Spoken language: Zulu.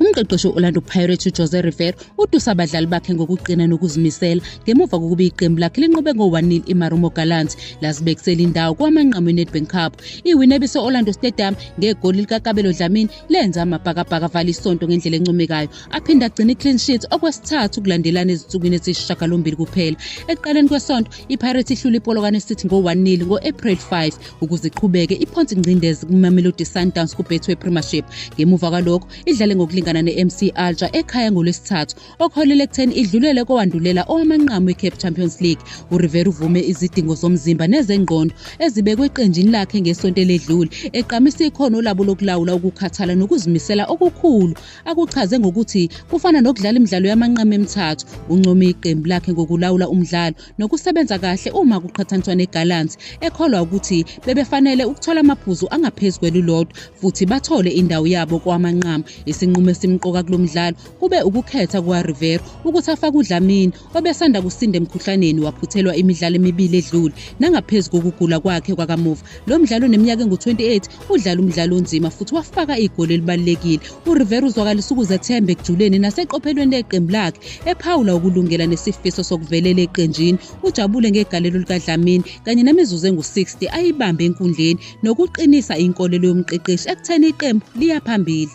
Umqeqeshi we-Orlando Pirates uJose Rivero utusa abadlali bakhe ngokuqina nokuzimisela ngemuva kokuba iqembu lakhe linqobe ngo-1-0 iMarumo Gallants lazibekisela indawo kwamanqamu eNedbank Cup. Iwini ebise-Orlando Stadium ngegoli likaKabelo Dlamini lenza amabhakabhaka avala isonto ngendlela encomekayo aphinde agcina i-clean sheet okwesithathu kulandelana ezinsukwini eziyisishagalombili kuphela. Ekuqaleni kwesonto iPirates ihlula iPolokwane City ngo-1-0 ngo-April 5 ukuze iqhubeke iphonse ingcindezi kumamelodi sundowns kubetway premiership ngemuva kwalokho idlale ngokulingana ne-mc alger ekhaya ngolwesithathu okuholele ekutheni idlulele kowandulela owamanqamu we-cape champions league urivera uvume izidingo zomzimba nezengqondo ezibekwe eqenjini lakhe ngesonto eledlule eqamisa ikhono labo lokulawula ukukhathala nokuzimisela okukhulu akuchaze ngokuthi kufana nokudlala imidlalo yamanqamu emithathu uncome iqembu lakhe ngokulawula umdlalo nokusebenza kahle uma kuqhathaniswa neGallants ekholwa ukuthi bebefanele ukuthola amaphuzu angaphezu kwelulodwa futhi bathole indawo yabo kowamanqamu. Isinqumo esimqoka kulo mdlalo kube ukukhetha kukaRivero ukuthi afake uDlamini obesanda kusinda emkhuhlaneni waphuthelwa imidlalo emibili edlule nangaphezu kokugula kwakhe kwakamuva. Lo mdlali oneminyaka engu-28 udlala umdlalo onzima futhi wafaka igoli elibalulekile urivera uzwakalisa ukuzethemba ekujuleni naseqophelweni leqembu lakhe ephawula ukulungela nesifiso sokuvelela eqenjini ujabule ngegalelo likadlamini kanye nemizuzu engu-60 ayibambe enkundleni nokuqinisa inkolelo yomqeqeshi ekutheni iqembu liya phambili